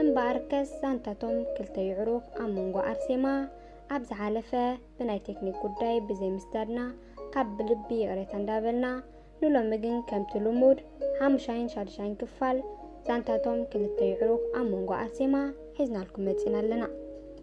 እምበኣርከስ ዛንታ'ቶም ክልተ የዕሩኽ ኣብ መንጎ ኣርሴማ ኣብ ዝሓለፈ ብናይ ቴክኒክ ጉዳይ ብዘይ ምስዳድና ካብ ብልቢ ይቕሬታ እንዳበልና ንሎሚ ግን ከምቲ ልሙድ ሓሙሻይን ሻድሻይን ክፋል ዛንታ'ቶም ክልተ የዕሩኽ ኣብ መንጎ ኣርሴማ ሒዝናልኩም መጺእና ኣለና።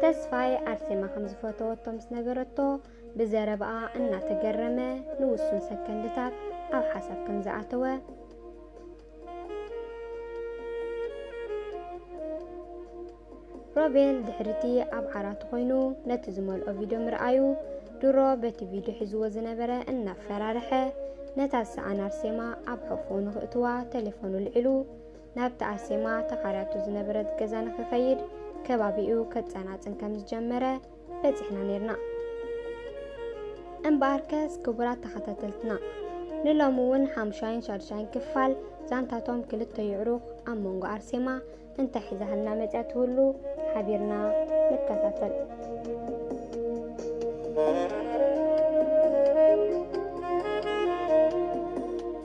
ተስፋይ ኣርሴማ ከም ዝፈተወቶ ምስ ነገረቶ ብዘረባኣ እናተገረመ ንውሱን ሰከንድታት ኣብ ሓሳብ ከም ዝኣተወ ሮቤል ድሕርቲ ኣብ ዓራቱ ኮይኑ ነቲ ዝመልኦ ቪድዮ ምርኣዩ ድሮ በቲ ቪድዮ ሒዝዎ ዝነበረ እናፈራርሐ ነታ ዝሰኣን ኣርሴማ ኣብ ሕቑኡ ንኽእትዋ ቴሌፎኑ ልዒሉ ናብቲ ኣርሴማ ተኻርያቶ ዝነበረት ገዛ ንኽኸይድ ከባቢኡ ከጸናጽን ከም ዝጀመረ በጺሕና ነርና። እምበኣርከስ ክቡራት ተኸታተልትና ንሎሚ እውን ሓምሻይን ሻድሻይን ክፋል ዛንታቶም ክልተ ይዕሩኽ ኣብ መንጎ ኣርሴማ እንታይ ሒዛህልና መጽያ ትህሉ ሓቢርና ንከታተል።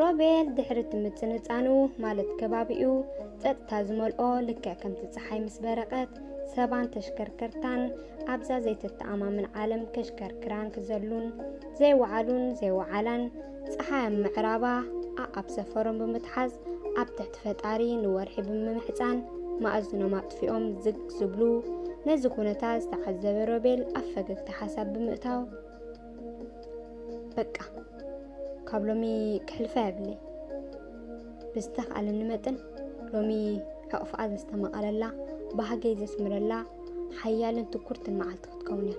ሮቤል ድሕሪ እቲ ምጽንጻኑ ማለት ከባቢኡ ጸጥታ ዝመልኦ ልክዕ ከምቲ ጸሓይ ምስ በረቐት ሰባን ተሽከርከርታን ኣብዛ ዘይተተኣማምን ዓለም ከሽከርክራን ክዘሉን ዘይወዓሉን ዘይወዓላን ፀሓይ ኣብ ምዕራባ ኣኣብ ሰፈሮም ብምትሓዝ ኣብ ትሕቲ ፈጣሪ ንወርሒ ብምምሕፃን ማእዝኖም ኣጥፊኦም ዝግ ዝብሉ ነዚ ኩነታት ዝተዓዘበ ሮቤል ኣብ ፈገግታ ሓሳብ ብምእታው በቃ ካብ ሎሚ ክሕልፋ የብለይ ብዝተኽኣለኒ መጠን ሎሚ ሕቕፍኣ ዘስተማቐለላ ባህገይ ዘስምረላ ሓያልን ትኩርትን መዓልቲ ክትከውን እያ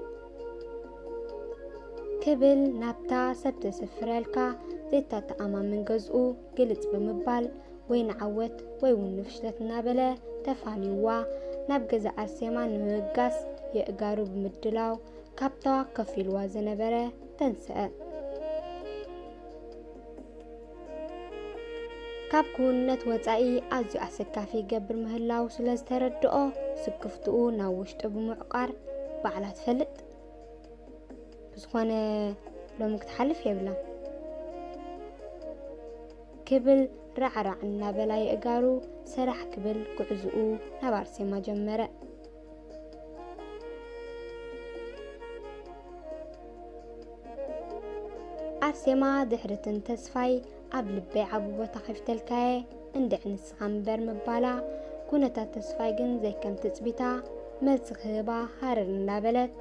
ክብል ናብታ ሰብ ዘስፍረልካ ዘይተተኣማምን ገዝኡ ግልጽ ብምባል ወይ ንዓወት ወይ እውን ንፍሽለት እናበለ ተፋንዩዋ ናብ ገዛ ኣርሴማ ንምብጋስ የእጋሩ ብምድላው ካብታ ከፍ ኢልዋ ዝነበረ ተንስአ። ካብ ክውንነት ወጻኢ ኣዝዩ ኣሰካፊ ይገብር ምህላው ስለ ዝተረድኦ ስክፍትኡ ናብ ውሽጡ ብምዕቋር ባዕላ ትፈልጥ ብዝኾነ ሎሚ ክትሓልፍ የብላ ክብል ራዕራዕ እናበላ የእጋሩ ሰራሕ ክብል ጉዕዝኡ ናብ ኣርሴማ ጀመረ። ኣርሴማ ድሕርትን ተስፋይ ኣብ ልበይ ዓቢ ቦታ ከፊተልካየ እንድዕ ንስኻ ምበር ምባላ ኩነታት ተስፋይ ግን ዘይከም ትጽቢታ መልሲ ክህባ ሃረር እንዳበለት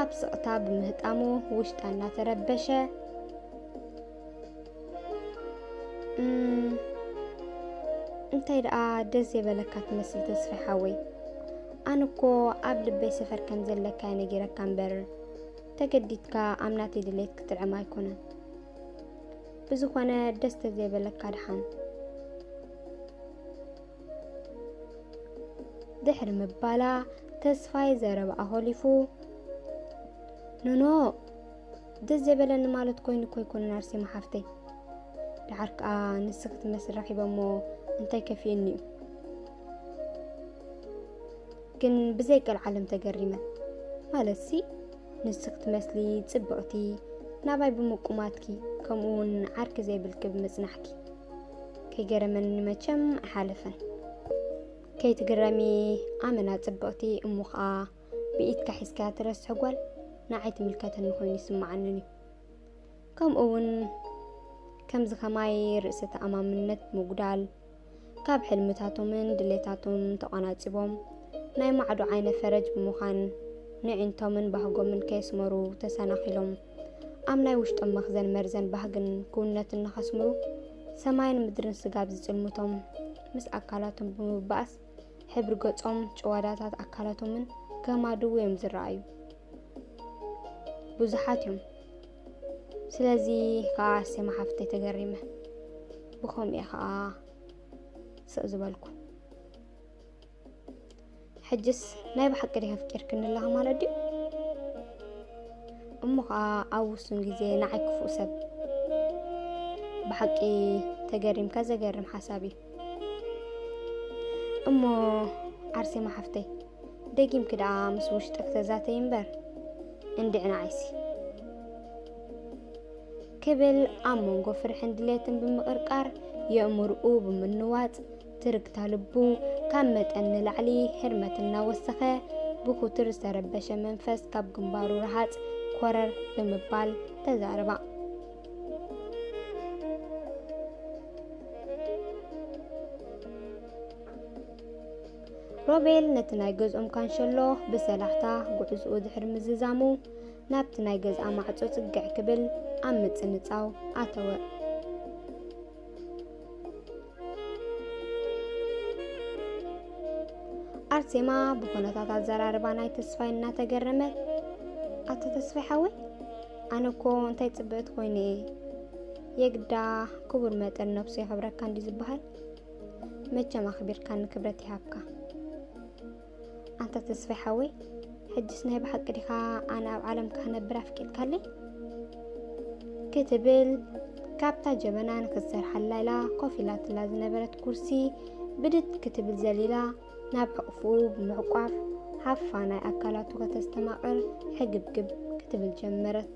ኣብ ስቕታ ብምህጣሙ ውሽጣ እናተረበሸ እንታይ ደኣ ደስ ዘይበለካ ትመስል ተስፋ ሓወይ ኣነ እኮ ኣብ ልበይ ሰፈር ከም ዘለካ ነጊረካ እምበር ተገዲድካ ኣብ ናተይ ድሌት ክትጥዕም ኣይኮነን ብዝኾነ ደስ ተዘይበለካ ድሓን ድሕሪ ምባላ ተስፋይ ዘረብኣ ሆሊፉ ኖኖ ደስ ዘበለኒ ማለት ኮይኑ እኮ ኣይኮነን ኣርሴማ ሓፍተይ ደሓር ከዓ ንስ ክትመስል ረኺበሞ እንታይ ከፊኡኒ እዩ ግን ብዘይ ቀልዓለም ተገሪመ ማለት ሲ ንስ ክትመስሊ ፅብቕቲ ናባይ ብምቁማትኪ ከምኡ እውን ዓርኪ ዘይብልኪ ብምፅናሕኪ ከይገረመኒ መቸም ኣይሓለፈን ከይትግረሚ ኣመና ፅብቕቲ እሞ ከዓ ብኢድካ ሒዝካያ ትረስሒ ጓል ንዓይ ትምልከተኒ ኮይኑ ይስምዓኒ እዩ። ከምኡ እውን ከምዚ ከማይ ርእሰ ተኣማምነት ምጉዳል ካብ ሕልምታቶምን ድሌታቶም ተቋናጺቦም ናይ ማዕዶ ዓይነ ፈረጅ ብምዃን ንዒንቶምን ባህጎምን ከየስመሩ ተሰናኺሎም ኣብ ናይ ውሽጦም መኽዘን መርዘን ባህግን ክውነትን ንኸስምሩ ሰማይን ምድርን ስጋብ ዝጽልምቶም ምስ ኣካላቶም ብምባእስ ሕብሪ ገጾም፣ ጭዋዳታት ኣካላቶምን ከም ኣድው እዮም ዝረኣዩ። ብዙሓት እዮም። ስለዚ ከዓ ኣርሴማ ሓፍተይ ተገሪመ ብኸምኡ እየ ከዓ ስቕ ዝበልኩ። ሕጅስ ናይ ብሓቂ ዲኺ ኣፍቂርክኒ ኣለኻ ማለት ድዩ? እሞ ከዓ ኣብ ውሱን ግዜ ንዓይ ክፉእ ሰብ ብሓቂ ተገሪምካ ዘገርም ሓሳብ እዩ። እሞ ዓርሴማ ሓፍተይ ደጊምኪ ደኣ ምስ ውሽጢ ክተዛተይ እምበር እንድዕ ንዓይሲ ክብል ኣብ መንጎ ፍርሕን ድሌትን ብምቕርቃር የእምርኡ ብምንዋፅ ትርግታ ልቡ ካብ መጠን ንላዕሊ ህርመት እናወሰኸ ብኩትር ዝተረበሸ መንፈስ ካብ ግንባሩ ረሃፅ ኮረር ብምባል ተዛረባ። ሮቤል ነቲ ናይ ገዝኦም ካንሸሎ ብሰላሕታ ጉዕዝኡ ድሕሪ ምዝዛሙ ናብቲ ናይ ገዝኣ ማዕጾ ጽግዕ ክብል ኣብ ምጽንጻው ኣተወ። ኣርሴማ ብኩነታት ኣዘራርባ ናይ ተስፋይ እናተገረመት ኣቶ ተስፋይ ሓወይ ኣነ እኮ እንታይ ፅብእት ኮይኑ እየ የግዳ ክቡር መጠን ነብሱ የኽብረካ እንዲ ዝበሃል መቸም ኣኽቢርካ ንክብረት ይሃብካ ኣንታ ተስፋይ ሓወይ ሕጅስ ናይ ብሓቂ ዲኻ ኣነ ኣብ ዓለም ክነብር ኣፍቂድካለይ ክትብል ካብታ ጀበና ንክትሰርሓላ ኢላ ኮፍ ኢላትላ ዝነበረት ኩርሲ ብድድ ክትብል ዘሊላ ናብ ሕቕፍኡ ብምሕቋፍ ሃፋ ናይ ኣካላቱ ከተስተማቕር ሕግብግብ ክትብል ጀመረት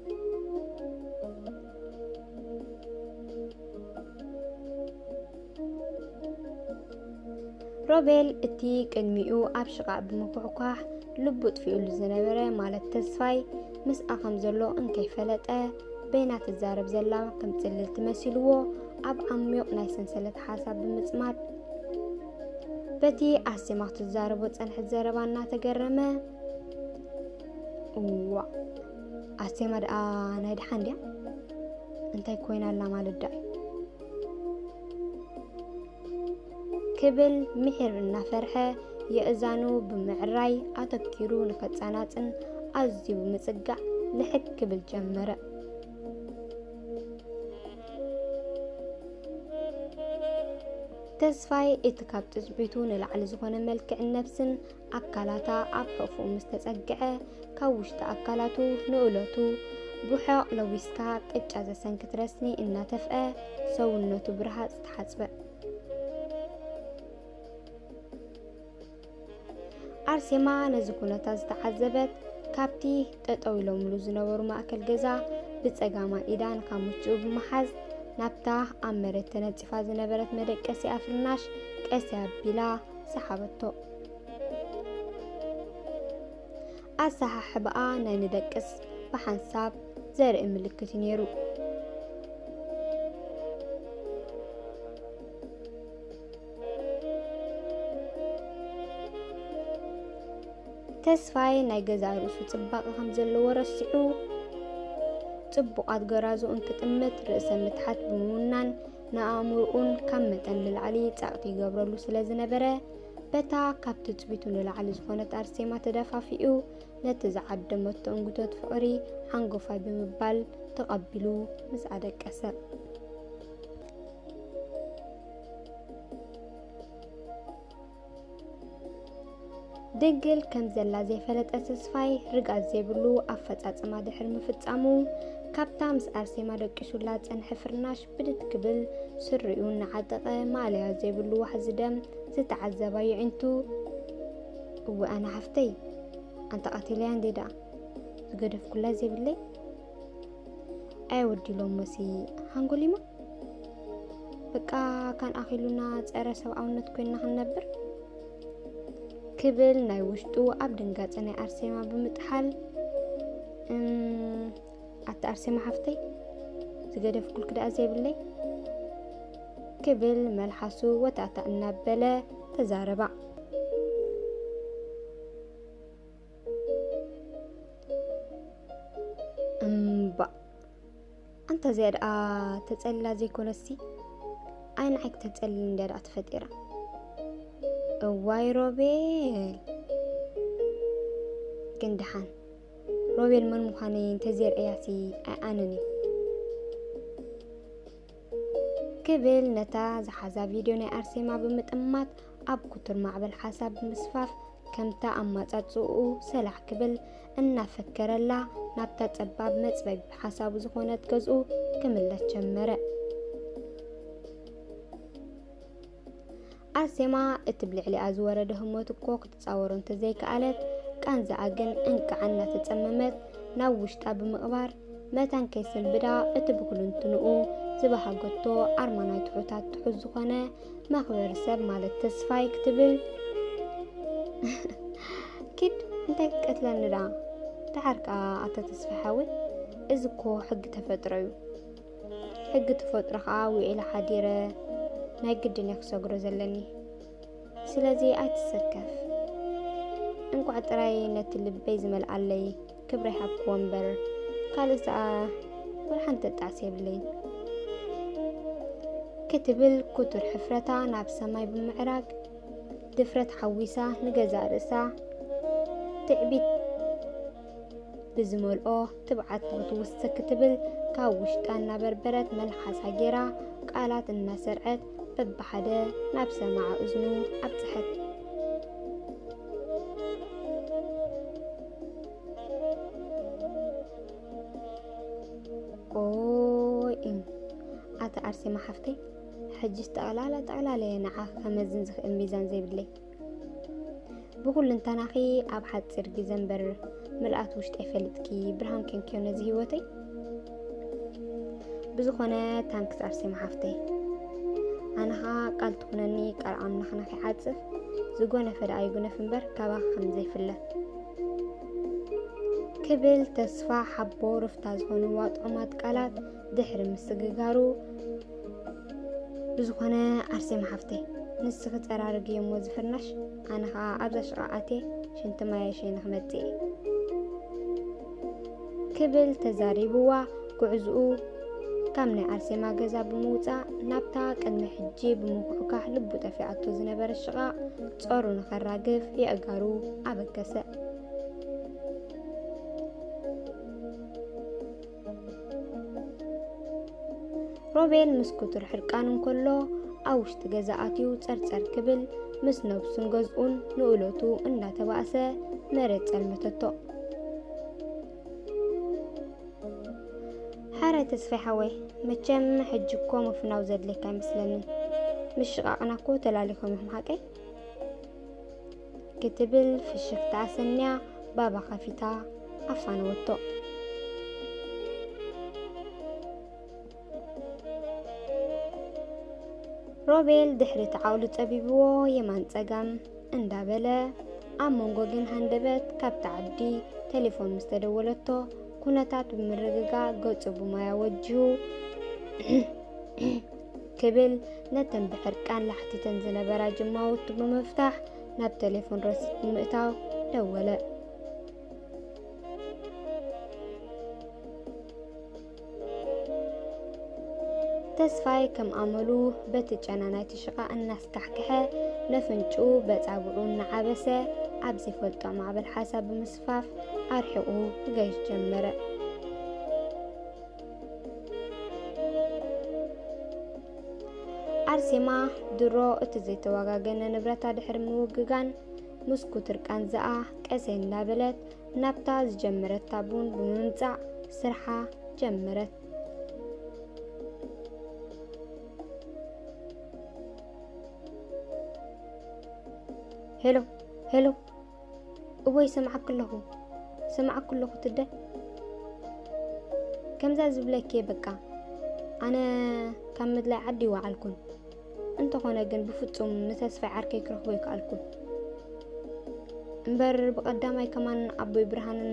ሮቤል እቲ ቅድሚኡ ኣብ ሽቓእ ብምኩሕኳሕ ልቡ ጥፊኡሉ ዝነበረ ማለት ተስፋይ ምስኣ ከም ዘሎ እንከይፈለጠ በይና ትዛረብ ዘላ ከም ጽልልቲ መሲልዎ ኣብ ዓሚቕ ናይ ሰንሰለት ሓሳብ ብምጽማድ በቲ ኣሴማ ክትዛረቦ ጸንሐት ዘረባ እናተገረመ እዋ ኣሴማ ደኣ ናይ ደሓን ድያ እንታይ ኮይና ኣላ ማለት ደኣ ክብል ምሒር እናፈርሐ የእዛኑ ብምዕራይ ኣተኪሩ ንኸጻናጽን ኣዝዩ ብምጽጋዕ ልሕግ ክብል ጀመረ። ተስፋይ እቲ ካብ ትጽቢቱ ንላዕሊ ዝኾነ መልክዕን ነብስን ኣካላታ ኣብ ሕቕፍኡ ምስ ተጸግዐ፣ ካብ ውሽጢ ኣካላቱ ንእለቱ ብሑቕ ለዊስካ ቅጫ ዘሰንክት ረስኒ እናተፍዐ ሰውነቱ ብረሃጽ ተሓጽበ። ኣርሴማ ነዚ ኩነታት ዝተዓዘበት ካብቲ ጠጠው ኢሎምሉ ዝነበሩ ማእከል ገዛ ብጸጋማ ኢዳ ንካሙችኡ ብምሓዝ ናብታ ኣብ መሬት ተነጺፋ ዝነበረት መደቀሲኣ ፍርናሽ ቀስ ኣቢላ ሰሓበቶ። ኣሰሓሕባኣ ናይ ንደቅስ ብሓንሳብ ዘርኢ ምልክት እዩ ነይሩ። ተስፋይ ናይ ገዛ ርእሱ ጽባቐ ከም ዘለዎ ረሲዑ ጽቡቓት ገራዙ እንትጥምት ርእሰ ምትሓት ብምውናን ንኣእምሮኡን ካብ መጠን ንላዕሊ ጻቕቲ ይገብረሉ ስለ ዝነበረ በታ ካብ ትጽቢቱ ንላዕሊ ዝኾነት ኣርሴማ ተደፋፊኡ ነቲ ዝዓደመቶ እንግቶት ፍቕሪ ሓንጎፋይ ብምባል ተቐቢሉ ምስ ኣደቀሰ ድንግል ከም ዘላ ዘይፈለጠ ተስፋይ ርግኣት ዘይብሉ ኣፈጻጽማ ድሕሪ ምፍጻሙ ካብታ ምስ ኣርሴማ ደቂሱላ ጸንሐ ፍርናሽ ብድድ ክብል ስሪኡ እናዓጠቐ ማእለያ ዘይብሉ ዋሕዚ ደም ዝተዓዘባ የዒንቱ እወ ኣነ ሓፍተይ ኣንታ ቀቲለያ እንዴ ደኣ ዝገደፍኩላ ዘይብለይ ኣየወዲሎም መሲ ሃንጎሊማ በቃ ካን ኣኺሉና ፀረ ሰብኣውነት ኮይና ክንነብር ክብል ናይ ውሽጡ ኣብ ድንጋፀ ናይ ኣርሴማ ብምጥሓል ኣቲ ኣርሴማ ሓፍተይ ዝገደፍኩልክ ደኣ ዘይብለይ ክብል መልሓሱ ወታእታ እናበለ ተዛረባ። እምባ ኣንታ እዚኣ ደኣ ተጸልላ ዘይኮነሲ ኣይ ንዓይ ክተጸልል እንድያ ደኣ ተፈጢራ። እዋይ ሮቤል ግን ደሓን ሮቤል መን ምዃነይ እንተዜርእያሲ ኣይኣነን እዩ ክብል ነታ ዝሓዛ ቪድዮ ናይ ኣርሴማ ብምጥማት ኣብ ኩቱር ማዕበል ሓሳብ ብምስፋፍ ከምታ ኣማጻጽኡ ሰላሕ ክብል እናፈከረላ ናብታ ጸባብ መጽበቢ ሓሳቡ ዝኾነት ገዝኡ ክምለስ ጀመረ። ኣርሴማ እቲ ብልዕሊኣ ዝወረደ ህሞት እኮ ክትጻወሮ እንተዘይከኣለት፣ ቃንዛኣ ግን እንቃዕ እናተጸመመት ናብ ውሽጣ ብምቕባር፣ መታን ከይሰልብዳ እቲ ብኩሉንትንኡ ዝበሃገቶ ኣርማ ናይ ትሑታት ትሑት ዝኾነ መኽበሪ ሰብ ማለት ተስፋይ ክትብል ኪድ እንታይ ክትቀትለኒ ደኣ ደሓር ከኣ ኣቶ ተስፋይ ሓወይ እዚ እኮ ሕጊ ተፈጥሮ እዩ ሕጊ ተፈጥሮ ከዓ ውዒለ ሓዲረ ናይ ግድን እየ ክሰግሮ ዘለኒ ስለዚ ኣይትሰከፍ እንቋዕ ጥራይ ነቲ ልበይ ዝመልኣለይ ክብሪ ሃብክዎ እምበር ካልእ ሰኣ ወልሓንቲ ተጣዕሲ የብለይ ክትብል ኩቱር ሕፍረታ ናብ ሰማይ ብምዕራግ ድፍረት ሓዊሳ ንገዛእ ርእሳ ትዕቢት ብዝመልኦ ትብዓት ክትውስክ ክትብል ካብ ውሽጣ እናበርበረት መልሓሳ ጌራ ቃላት እናሰርዐት በብሓደ ናብ ሰማዓ እዝኑ ኣብፅሐት። ኦይ እም ኣቲ ኣርሴማ ሓፍተይ ሕጅስ ጠቕላላ ጠቕላላ እየ ንዓኽ ከመዝን ዝኽእል ሚዛን ዘይብለይ ብኩልንተናኺ ኣብ ሓፂር ግዜ እምበር ምልኣት ውሽጠይ ፈልጥኪ ብርሃን ከንኪዮ ነዚ ህይወተይ ብዝኾነ ታንክስ ኣርሴማ ሓፍተይ ኣነኻ ቃል ትኹነኒ ቃል ኣምላኽና ከይዓፅፍ ዝጎነፈ ደኣ ይጉነፍ እምበር ካባኺ ከም ዘይፍለ ክብል ተስፋ ሓቦ ርፍታ ዝኾኑ ዋጥዑማት ቃላት ድሕሪ ምስግጋሩ ብዝኾነ ኣርሴማ ሓፍተይ ንስኺ ፀራርግ እየሞ ዝፍርናሽ ኣነ ከዓ ኣብዛ ሽቓ ኣቴ ሽንቲ ማየ ሸይነ ክመፅእ እየ ክብል ተዛሪብዋ ጉዕዝኡ ካብ ናይ ኣርሴማ ገዛ ብምውፃእ ናብታ ቅድሚ ሕጂ ብምኩሕካሕ ልቡ ጠፊኣቶ ዝነበረ ሽቓ ጸሩ ንኸራግፍ የእጋሩ ኣበገሰ ሮቤል ምስ ኩቱር ሕርቃን እንከሎ ኣብ ውሽጢ ገዛ ኣትዩ ጸርጸር ክብል ምስ ነብሱን ገዝኡን ንእሎቱ እንዳተባእሰ መሬት ጸልመተቶ። ሓረ ተስፋይ ሓወይ መቸም ሕጂ እኮ ምፍናው ዘድልየካ ኣይመስለንን። ምሽቓቕና እኮ ተላሊኾም እዮም ሓቀይ ክትብል ፍሽኽታ ኣሰንያ ባባ ከፊታ ኣፋነወቶ። ሮቤል ድሕሪ እቲ ዓቕሉ ጸቢብዎ የማን ጸጋም እንዳበለ ኣብ መንጎ ግን ሃንደበት ካብቲ ዓዲ ቴሌፎን ምስ ተደወለቶ ኩነታት ብምርግጋእ ገጹ ብማያ ወጅሁ ክብል ነተን ብሕርቃን ላሕቲተን ዝነበራ ጅማውቱ ብምፍታሕ ናብ ቴሌፎን ረሲድ ብምእታው ደወለ። ተስፋይ ከም ኣመሉ በቲ ጨና ናይቲ ሽቓ እናስካሕክሐ ለፍንጩ በፃብዑ እናዓበሰ ኣብ ዘይፈልጦ ማዕበል ሓሳብ ብምስፋፍ ኣርሒቑ ክገይሽ ጀመረ። ኣርሴማ ድሮ እቲ ዘይተዋጋገነ ንብረታ ድሕሪ ምውግጋን ምስ ኩትር ቃንዛኣ ቀሰይ እንዳበለት ናብታ ዝጀመረታ ቡን ብምምፃእ ስርሓ ጀመረት። ሄሎ ሄሎ እወ ይሰምዓኪ ኣለኹ ይሰምዓኪ ኣለኹ ትደ ከምዛ ዝብለኪ በቃ ኣነ ካብ ምድላይ ዓዲ ይወዓልኩን እንተኾነ ግን ብፍጹም ንተስፋይ ዓርከይ ክረኽቦ ይከኣልኩን እምበር ብቐዳማይ ከማን ኣቦይ ብርሃንን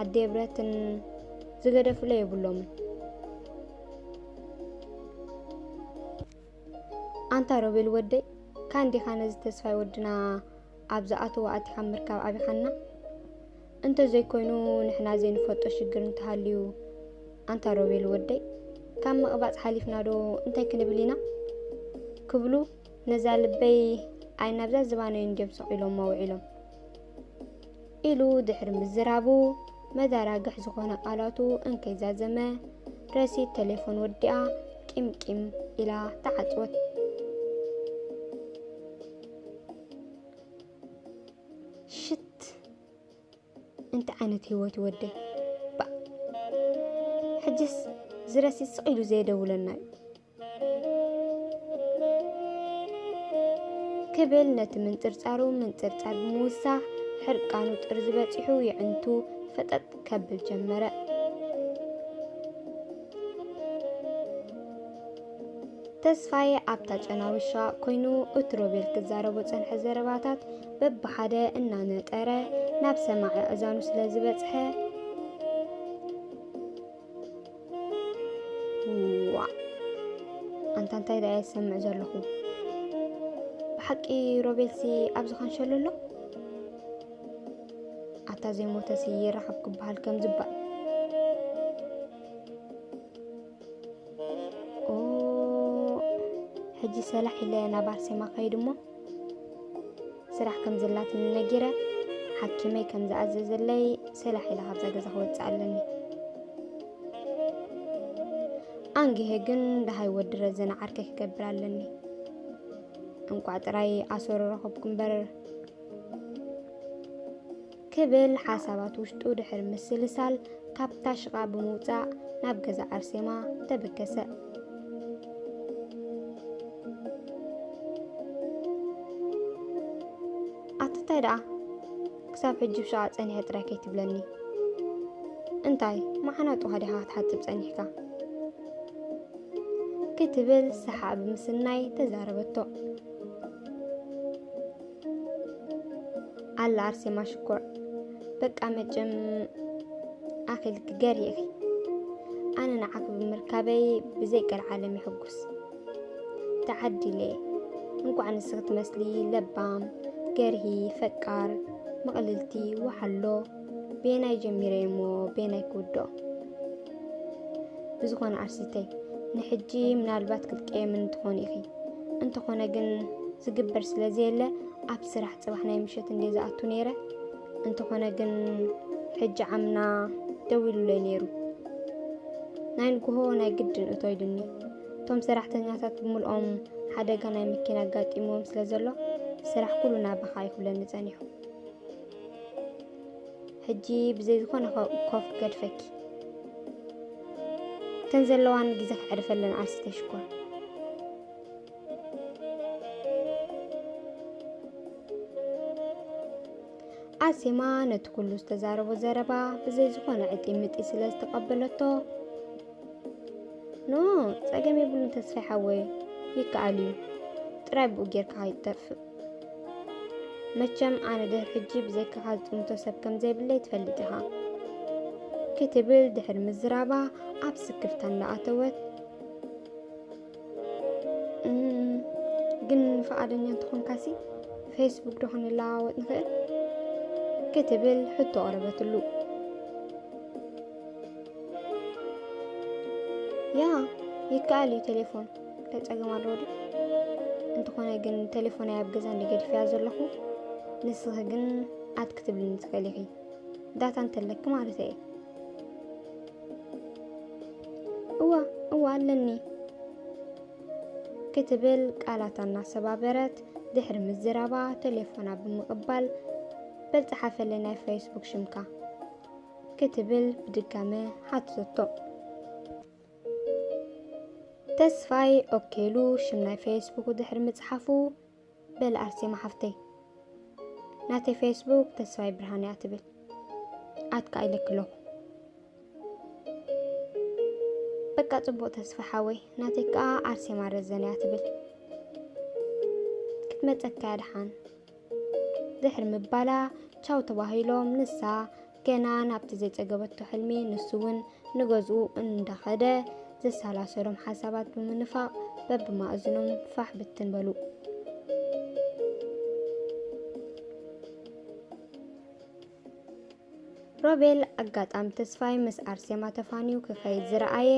ኣደ ብረትን ዝገደፍለ የብሎምን ኣንታ ሮቤል ወደይ ካንዲኻ ነዚ ተስፋይ ወድና ኣብ ዝኣተዎ ኣቲኻ ምርካብ ኣብይሓና እንተ ዘይኮይኑ ንሕና ዘይንፈልጦ ሽግር እንተሃልዩ ኣንታ ሮቤል ወደይ ካብ ምቕባጽ ሓሊፍና ዶ እንታይ ክንብል ኢና ክብሉ ነዛ ልበይ ኣይ ናብዛ ዝባነዩ እንድዮም ሰቒሎሞ ውዒሎም ኢሉ ድሕሪ ምዝራቡ መዳራግሕ ዝኾነ ቃላቱ እንከይዛዘመ ረሲት ቴሌፎን ወዲኣ ቂምቂም ኢላ ተዓጽወት። ሽት እንታይ ዓይነት ህይወት ወደ ባእ ሕጅስ ዝረሲ ስቕ ኢሉ ዘየደውለና እዩ ክብል ነቲ ምንፅርፃሩ ምንፅርፃር ብምውሳኽ ሕርቃኑ ጥርዚ በፂሑ የዕንቱ ፈጠጥ ከብል ጀመረ ተስፋይ ኣብታ ጨናዊሻ ኮይኑ እቲ ሮቤል ክዛረቦ ጸንሐ ዘረባታት በብሓደ እናነጠረ ናብ ሰማዒ ኣእዛኑ ስለ ዝበጽሐ ዋ ኣንታ እንታይ ደኣ የሰምዕ ዘለኹ ብሓቂ ሮቤልሲ ኣብ ዝኸንሸሉ ኣሎ ኣታ ዘይሞተሲ ይረኸብ ክበሃል ከም ዝባል ኦ ሕጂ ሰላሕ ኢለ ናብ ኣርሴማ ከይድ እሞ ስራሕ ከም ዘላትኒ ነጊረ ሓኪመይ ከም ዝኣዘዘለይ ሰላሕ ኢለ ካብዛ ገዛ ክወፅእ ኣለኒ ኣንግሄ ግን ደሃይ ወዲ ረዘነ ዓርከይ ክገብር ኣለኒ እንቋዕ ጥራይ ኣሰሩ ረኸብኩ እምበር ክብል ሓሳባት ውሽጡ ድሕሪ ምስልሳል ካብታ ሽቓ ብምውጻእ ናብ ገዛ ኣርሴማ ተበገሰ። ኣትታይ ደኣ ክሳብ ሕጂ ብሸቓ ጸኒሐ ጥራይ ከይትብለኒ እንታይ መዓናጡኻ ዲኻ ክትሓጽብ ጸኒሕካ ክትብል ሰሓ ብምስናይ ተዛረበቶ ኣላ ኣርሴማ ሽኮር በቃ መጭም ኣኺልኪ ገር ኢኺ ኣነ ንዓኺ ብምርካበይ ብዘይ ቀልዓለም ይሕጉስ ተዓዲለ እንኳዕ ንስኺ ትመስሊ ለባም ገርሂ ፈቃር ምቕልልቲ ወሓሎ ቤናይ ጀሚረይ እሞ ቤናይ ክውድኦ ብዝኾነ ኣርሲተይ ንሕጂ ምናልባት ክትቀየምን ትኾኑ ኢኺ እንተኾነ ግን ዝግበር ስለ ዘየለ ኣብ ስራሕ ፅባሕ ናይ ምሸት እንደ ዝኣቱ ነይረ እንተኾነ ግን ሕጂ ዓምና ደው ኢሉለይ ነይሩ ናይ ንግሆ ናይ ግድን እቶ ኢሉኒ እቶም ሰራሕተኛታት ብምልኦም ሓደጋ ናይ መኪና ኣጋጢምዎም ስለ ዘሎ ስራሕ ኩሉ ናባኻ ይኹብለኒ ጸኒሑ ሕጂ ብዘይ ዝኾነ ኮፍ ገድፈኪ እተን ዘለዋን ግዜ ክዕርፈለን ዓርሲ ተሽኮር ኣሴማ ነቲ ኩሉ ዝተዛረቦ ዘረባ ብዘይ ዝኾነ ዕጢምጢ ስለ ዝተቐበለቶ ኖ ጸገም የብሉን ተስፋይ ሓወይ ይከኣል እዩ ጥራይ ብኡ ጌርካ ይጠፍእ መቸም ኣነ ድሕሪ ሕጂ ብዘይካኻ ዝጥምቶ ሰብ ከም ዘይብለይ ትፈልጥ ኢኻ ክትብል ድሕሪ ምዝራባ ኣብ ስክፍታ እንዳኣተወት ግን ፈቓደኛ እንተኾንካሲ ፌስቡክ ዶ ክንለዋወጥ ንኽእል ክትብል ሕቶ ቐረበትሉ ያ ይከኣል እዩ ቴሌፎን እንታይ ፀገም ኣለዎ ድዩ? እንተኾነ ግን ቴሌፎነይ ኣብ ገዛ እንድየ ገዲፈያ ዘለኹ ንስኺ ግን ኣት ክትብልኒ ትኽእሊ ኢኺ ዳታ እንተለኪ ማለት እየ እዋ እዋ ኣለኒ ክትብል ቃላታ እናሰባበረት ድሕሪ ምዝራባ ቴሌፎና ብምቕባል በል ፀሓፈለይ ናይ ፌስቡክ ሽምካ ክትብል ብድጋመ ሓትተቶ ተስፋይ ኦኬ ኢሉ ሽም ናይ ፌስቡኩ ድሕሪ ምጽሓፉ፣ በል ኣርሴማ ሓፍተይ ናተይ ፌስቡክ ተስፋይ ብርሃነ እያ ትብል ኣትካ ኢለኪ ኣለኹ። በቃ ጽቡቕ ተስፋ ሓወይ ናተይ ከኣ ኣርሴማ ረዘነ እያ ትብል ክትመጸካ እያ ደሓን ድሕሪ ምባላ ቻው ተባሂሎም ንሳ ገና ናብቲ ዘይጸገበቶ ሕልሚ ንሱ እውን ንገዝኡ እንዳኸደ ዘሰላሰሎም ሓሳባት ብምንፋቕ በብማእዝኖም ፋሕ ብትን በሉ። ሮቤል ኣጋጣም ተስፋይ ምስ ኣርሴማ ተፋንዩ ክኸይድ ዝረኣየ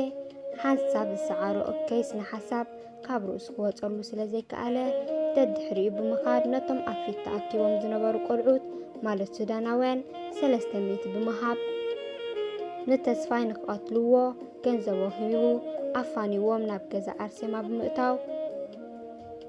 ሓንሳብ ዝሰዓሮ እከይ ስነ ሓሳብ ካብ ርእሱ ክወፀሉ ስለ ዘይከኣለ ደድሕሪኡ ብምኻድ ነቶም ኣብ ፊት ተኣኪቦም ዝነበሩ ቆልዑት ማለት ሱዳናውያን ሰለስተ ሚእቲ ብምሃብ ንተስፋይ ንክቐትልዎ ገንዘቦ ሂቡ ኣፋንዎም ናብ ገዛ ኣርሴማ ብምእታው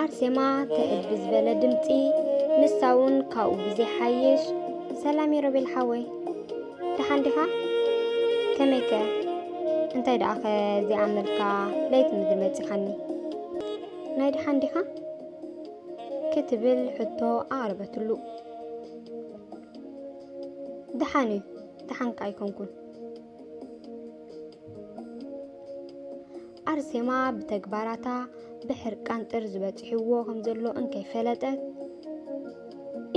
ኣርሴማ ተእል ብዝበለ ድምፂ ንሳውን ካብኡ ብዘይሓይሽ ሰላም የሮቤል ሓወይ ደሓን ዲኻ ከመይ ከ እንታይ ደኣ ኸ ዘይኣመልካ ለይቲ ምድሪ መፂኻኒ ናይ ደሓን ዲኻ ክትብል ሕቶ ኣቕረበትሉ ደሓን እዩ ደሓንካ ኣይኮንኩን። ኣርሴማ ብተግባራታ ብሕርቃን ጥር ዝበጽሕዎ ከም ዘሎ እንከይፈለጠት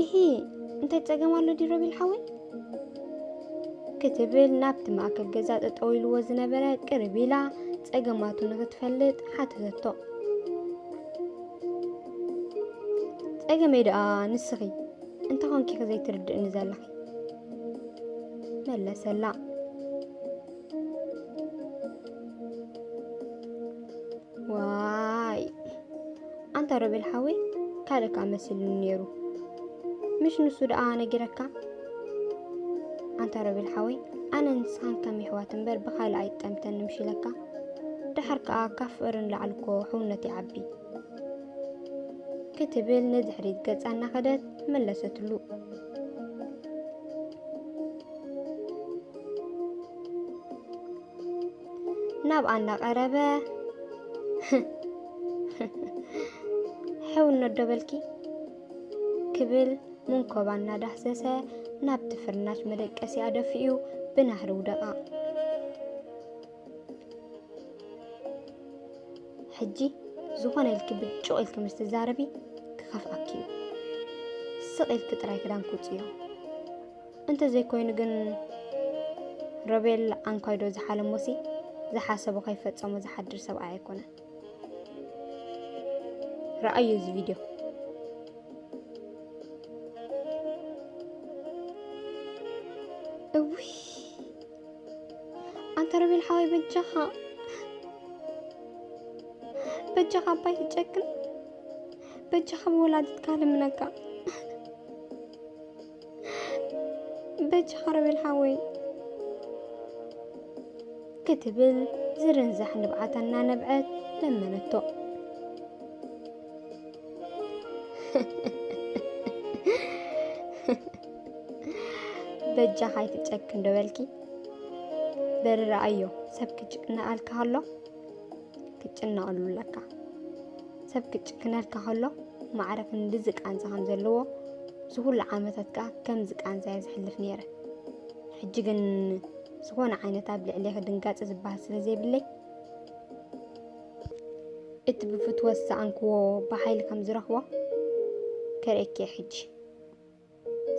እሂ እንታይ ጸገም ኣሎ ድዩ ረቢል ሓወይ ክትብል ናብቲ ማእከል ገዛ ጠጠው ኢልዎ ዝነበረ ቅርብ ኢላ ጸገማቱ ንክትፈልጥ ሓተተቶ ጸገመይ ደኣ ንስኺ እንተኾንኪኺ ዘይትርድእኒ ዘለኺ መለሰላ። ዋይ ኣንታ ሮቤል ሓወይ ካልእ ከ መሲሉኒ ነይሩ ምሽ ንሱ ደኣ ነጊረካ ኣንታ ሮቤል ሓወይ ኣነ ንስኻን ከም ይሕዋት እምበር ብካልእ ኣይጠምተን ምሽ ኢለካ ድሓር ከኣ ካብ ፍቕርን ላዕልኮ ሕውነት ይዓቢ ክትብል ንድሕሪት ገጻ እናኸደት መለሰትሉ ናብ ኣና ቀረበ ሕው እነዶበልኪ ክብል መንኮባ እናዳህሰሰ ናብቲ ፍርናሽ መደቀሲ ኣደፊኡ ብናህሪ ውደቓ። ሕጂ ዝኾነ ኢልኪ ብጭቕ ኢልኪ ምስ ትዛረቢ ክኸፍኣኪ እዩ ስቕ ኢልኪ ጥራይ ክዳን ክውፅዮ እንተዘይኮይኑ ግን ሮቤል ኣንኳይዶ ዝሓለሞሲ ዝሓሰቦ ከይፈፀሞ ዝሓድር ሰብኣይ ኣይኮነን ረኣዩ እዚ ቪድዮ እውይ ኣንተ ረቤል ሓወይ በጃኻ በጃኻ ኣባይ ትጨክን በጃኻ ብወላዲትካ ልምነካ በጃኻ ረቤል ሓወይ ክትብል ዝርንዛሕ ንብዓታ እናነብዐት ለመነቶ። በጃኻ ኣይትጨክን ዶ በልኪ በርረ ኣዮ ሰብ ክጭቅነኣልካ ከሎ ክጭነቐሉ ኣለካ ሰብ ክጭክነልካ ከሎ ማዕረ ክንድዚ ቃንዛ ከም ዘለዎ እዚ ኩሉ ዓመታት ከዓ ከምዚ ቃንዛ እየ ዝሕልፍ ነይረ ሕጂ ግን ዝኾነ ዓይነት ኣብ ልዕሌኺ ድንጋፀ ዝበሃል ስለ ዘይብለይ እቲ ብፍትወት ዝሰኣንክዎ ብሓይሊ ከም ዝረኽቦ ከርእየኪ እየ ሕጂ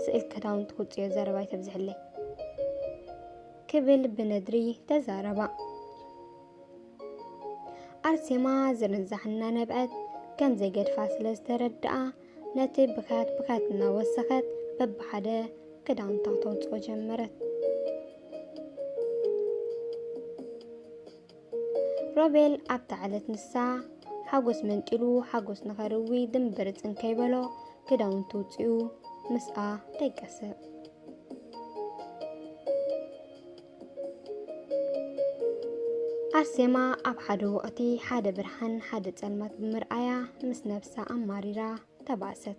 ስእል ክዳውንቲ ክውፅዮ ዘረባ ይተብዝሕለይ ክብል ብነድሪ ተዛረባ ኣርሴማ ዝርንዛሕ እናነብዐት ከም ዘይገድፋ ስለ ዝተረድኣ ነቲ ብካት ብካት እናወሰኸት በብሓደ ክዳውንታ ተውፅኦ ጀመረት ሮቤል ኣብታ ዕለት ንሳ ሓጎስ መንጢሉ ሓጎስ ንኸርዊ ድምብር ጽንከይ በሎ ክዳውንቱ ውጽኡ ምስኣ ደቀሰ። ኣርሴማ ኣብ ሓደ ወቕቲ ሓደ ብርሃን ሓደ ጸልማት ብምርኣያ ምስ ነብሳ ኣማሪራ ተባእሰት።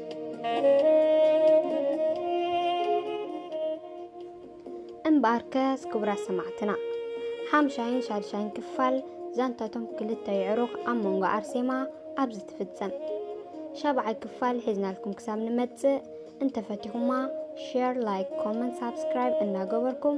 እምበኣርከስ ክቡራት ሰማዕትና ሓምሻይን ሻድሻይን ክፋል ዛንታቶም ክልተ ይዕሩኽ ኣብ መንጎ ኣርሴማ ኣብዚ ትፍጸም ሻብዓይ ክፋል ሒዝናልኩም ክሳብ ንመጽእ እንተፈቲኹማ ሼር ላይክ ኮመንት ሳብስክራይብ እናገበርኩም